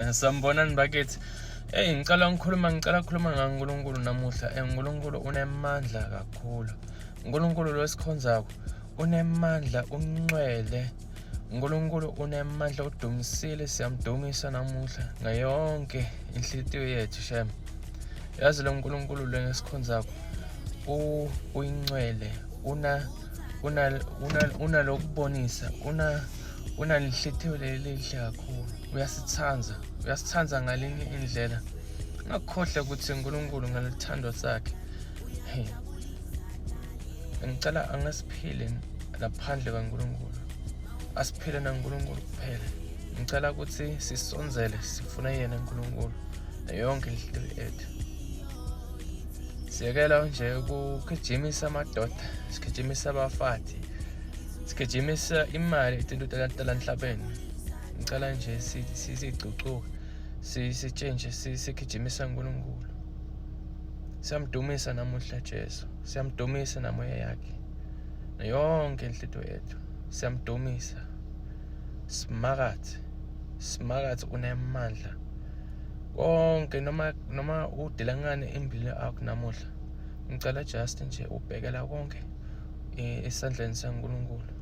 Eh, sanibonani bakithi eyi ngicela ngikhuluma ngicela kukhuluma ngankulunkulu namuhla um unkulunkulu unemandla kakhulu unkulunkulu lo esikhonzako unemandla uncwele unkulunkulu unemandla udumisile siyamdumisa namuhla ngayonke inhliziyo yethu shem yazi lo nkulunkulu lo ngesikhonzako uyincwele una unalokubonisa una unalihlitheyo leli lihle kakhulu uyasithanda uyasithanda ngalinye indlela ngakukhohlwa ukuthi uNkulunkulu ngalithando sakhe hey ngicela angasiphile ngaphandle kaNkulunkulu asiphile naNkulunkulu kuphela ngicela ukuthi sisonzele sifune yena uNkulunkulu yonke into ethu siyekela nje ukugijimisa amadoda sigijimisa abafati sigijimisa imali itinto talanhlabeni ngicela nje sizigcucuke sitshentshe sigijimisa uNkulunkulu siyamdumisa namuhla Jesu siyamdumisa namoya yakhe yonke inhlito yethu siyamdumisa simakathi simakathi unemandla konke noma noma udelangane embili akho namuhla ngicela just nje ubhekela konke eh, esandleni saNkulunkulu